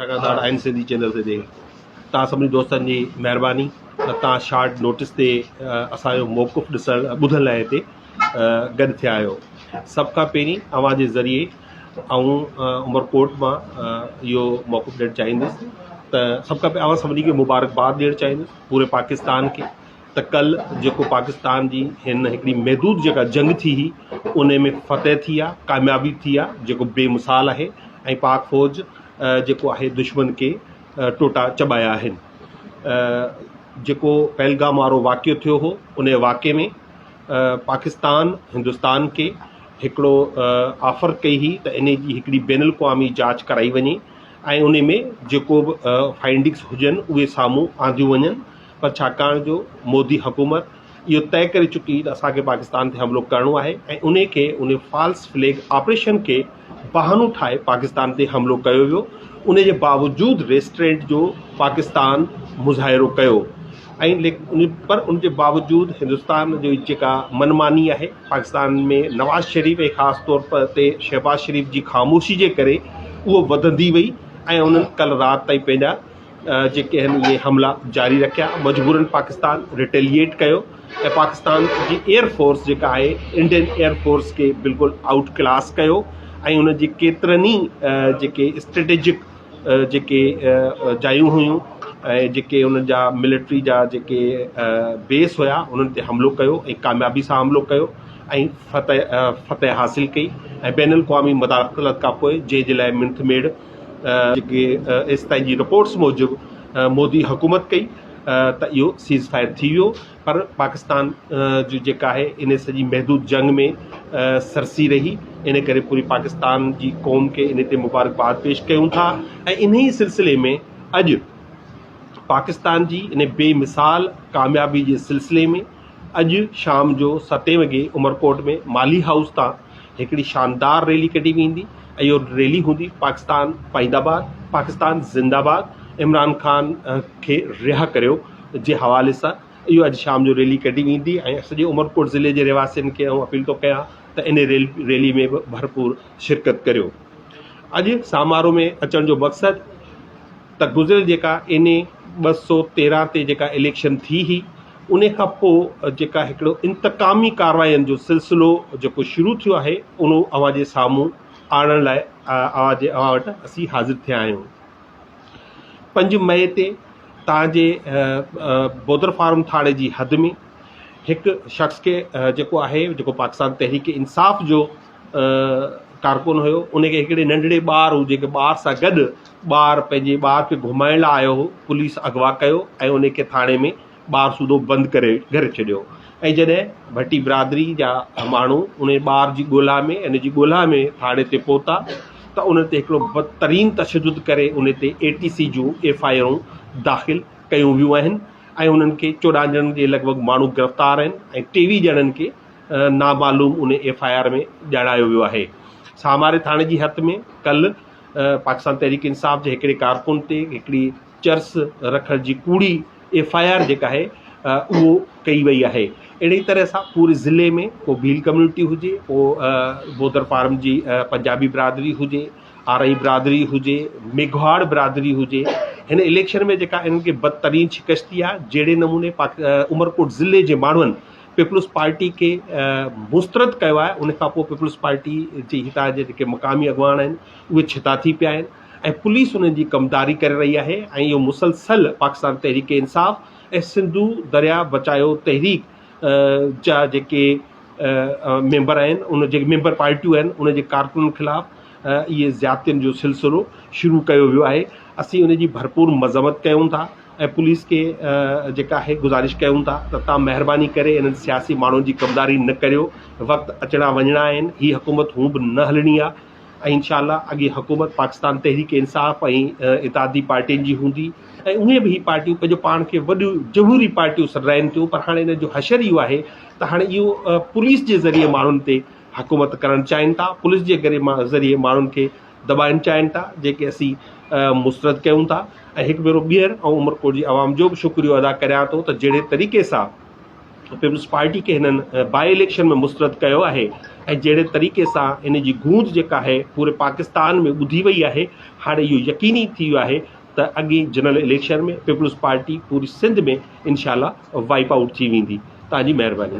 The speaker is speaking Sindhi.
لڳاتار آئين سنڌي چينل تي توهان سڀني دوستن جي مهرباني ته توهان شارٽ نوٽس تي اسان جو موقف ڏسڻ ٻڌڻ لاء هتي گڏ ٿيا آهيو سڀ کان پهرين اوهان جي ذريعي آئون عمرڪوٽ مان اهو موقف ڏيڻ چاهيندس ته سڀ کان پهرين اوهان سڀني کي مبارڪباد ڏيڻ چاهيندس پوري پاڪستان کي ته ڪل جيڪو پاڪستان جي هن هڪڙي محدود جيڪا جنگ ٿي هئي انهي ۾ فتح ٿي آ ڪاميابي ٿي آ جيڪو بي مثال آهي ۽ پاڪ فوج جيڪو آهي دشمن کي ٽوٽا چٻايا آهن جيڪو پهلگام وارو واقعو ٿيو هو انهي واقعي ۾ پاڪستان هندستان کي هڪڙو آفر ڪئي هئي ته انهي جي هڪڙي بين الاقوامي جاچ ڪرائي وڃي ۽ انهي ۾ جيڪو به فائنڊنگس هجن اهي سامهون آنديون وڃن پر ڇاڪاڻ جو مودي حڪومت اهو طئي ڪري چڪي هئي ته اسان کي پاڪستان تي حملو ڪرڻو آهي ۽ انهي کي انهي فالس فليگ آپريشن کي بهانو ٺاهي پاڪستان تي حملو ڪيو ويو انهي جي باوجود ريسٽرينٽ جو پاڪستان مظاهرو ڪيو ۽ پر ان جي باوجود هندستان جي جيڪا من ماني آهي پاڪستان ۾ نواز شريف ۽ خاص طور تي شهباز شريف جي خاموشي جي ڪري اهو وڌندي وئي ۽ انهن ڪل رات تائين پنهنجا جيڪي آهن اهي حملا جاري رکيا مجبورن پاڪستان ريٽيليئيٽ ڪيو ۽ پاڪستان جي ايئر فورس جيڪا آهي انڊين ايئر فورس کي بلڪل آئوٽ ڪلاس ڪيو ۽ ان جي ڪيترن ئي جيڪي اسٽريٽجڪ جيڪي جايون هيون ۽ جيڪي ان جا ملٽري جا جيڪي بيس هيا انهن تي حملو ڪيو ۽ ڪاميابي سان حملو ڪيو ۽ فتح فتح حاصل ڪئي ۽ بين الاقوامي مداخلت کان پوء جنهن جي لاء منٿ ميڙ جيڪي ايس پي جي رپورٽس موجب مودي حڪومت ڪئي ته اهو سيز فائر ٿي ويو پر پاڪستان جي جيڪا آهي ان سڄي محدود جنگ ۾ سرسي رهي ان ڪري پوري پاڪستان جي قوم کي ان تي مبارڪباد پيش ڪيون ٿا ۽ انهي سلسلي ۾ اڄ پاڪستان جي ان بي مثال ڪاميابي جي سلسلي ۾ اڄ شام جو ستين وڳي عمرڪوٽ ۾ مالهي هائوس تان هڪڙي شاندار ريلي ڪڍي ويندي ۽ اهو ريلي هوندي پاڪستان پائيند آباد پاڪستان زند آباد عمران خان کي رها ڪريو جي حوالي سان اهو اڄ شام جو ريلي ڪڍي ويندي ۽ سڄي عمرڪوٽ ضلعي جي رهواسين کي آئون اپيل ٿو ڪيان ته ان ريل ريلي ۾ به ڀرپور شرڪت ڪريو اڄ سامارو ۾ اچڻ جو مقصد ته گذريل جيڪا ان ٻه سو تيرهن تي جيڪا اليڪشن ٿي هي انهي کان پوء جيڪا هڪڙو انتقامي ڪاررواين جو سلسلو جيڪو شروع ٿيو آهي انهو اوهان جي سامهون آڻڻ لاء اوهان جي اوهان وٽ اسين حاضر ٿيا آهيون. پنج مئي تي تان جي بودر فارم ٿاڻي جي حد ۾ هڪ شخص کي جيڪو آهي جيڪو پاڪستان تحريڪ انصاف جو ڪارڪن هيو انهي کي هڪڙي ننڍڙي ٻار هو جيڪي ٻار سان گڏ ٻار پنهنجي ٻار کي گهمائڻ لاء آيو هو پوليس اغوا ڪيو ۽ ان کي ٿاڻي ۾ ٻار سوڌو بند ڪري گهيري ڇڏيو ۽ جڏهن ڀٽي برادري جا ماڻهو ان ٻار جي ڳولا ۾ ان جي ڳولا ۾ ٿاڻي تي پهتا ته ان تي هڪڙو بدترين تشدد ڪري ان تي اي ٽي سي جون ايف آء آرون داخل ڪيون ويون آهن ۽ انهن کي چوڏهن ڄڻن جي لڳ ڀڳ ماڻهو گرفتار آهن ۽ ٽيويهه ڄڻن کي نامعلوم ان ايف آء آر ۾ ڄاڻايو ويو آهي ساماري ٿاڻي جي حد ۾ ڪل پاڪستان تحريڪ انصاف جي هڪڙي ڪارڪن تي هڪڙي چرس رکڻ جي ڪوڙي ايف آء آر جيڪا آهي اهو ڪئي وئي آهي اهڙي طرح سان پوري ضلعي ۾ ڪو ڀيل ڪميونٽي هجي ڪو بودر فارم جي پنجابي برادري هجي آرئي برادري هجي ميگهواڙ برادري هجي هن اليڪشن ۾ جيڪا انهن کي بدترين شڪست ٿي آهي جهڙي نموني عمرڪوٽ ضلعي جي ماڻهن پيپلز پارٽي کي مسترد ڪيو آهي ان کانپوء پيپلز پارٽي جي هتان جي جيڪي مقامي اڳواڻ آهن اهي ڇتا ٿي پيا آهن ۽ پوليس انهن جي ڪمداري ڪري رهي آهي ۽ اهو مسلسل پاڪستان تحريڪ انصاف ۽ سنڌو دريا بچايو تحريڪ جا جيڪي ميمبر آهن ان جي ميمبر پارٽيون آهن ان جي ڪارڪنن خلاف اهي زيادتين جو سلسلو شروع ڪيو ويو آهي اسين ان جي ڀرپور مذمت ڪيون ٿا ۽ پوليس کي جيڪا آهي گذارش ڪيون ٿا ته تان مهرباني ڪري انهن سياسي ماڻهن جي ڪمداري نه ڪريو وقت اچڻا وڃڻا آهن هي حڪومت هون به نه هلڻي آهي ۽ انشاء الله اڳي حڪومت پاڪستان تحريڪ انصاف ۽ اتحادي پارٽين جي هوندي ۽ اهي به هي پارٽيون پنهنجو پاڻ کي وڏيون جمهوري پارٽيون سڏرائين ٿيون پر هاڻي انهن جو حشر اهو آهي ته هاڻي اهو پوليس جي ذريعي ماڻهن تي حڪومت ڪرڻ چاهين ٿا پوليس جي ذريعي ماڻهن کي دٻائن چاهين ٿا جيڪي اسين مسترد ڪيون ٿا ۽ هڪ ڀيرو ٻيهر آئون عمرڪوٽ جي عوام جو به شڪريو ادا ڪريان ٿو ته جهڙي طريقي سان پيپلز پارٽي کي هنن بائي اليڪشن ۾ مسترد ڪيو آهي ۽ جهڙي طريقي سان ان جي گونج جيڪا آهي پوري پاڪستان ۾ ٻڌي وئي آهي هاڻي اهو يقيني ٿي ويو آهي ته اڳي جنرل اليڪشن ۾ پيپلز پارٽي پوري سنڌ ۾ انشاء الله وائپ آؤٽ ٿي ويندي تان جي مهرباني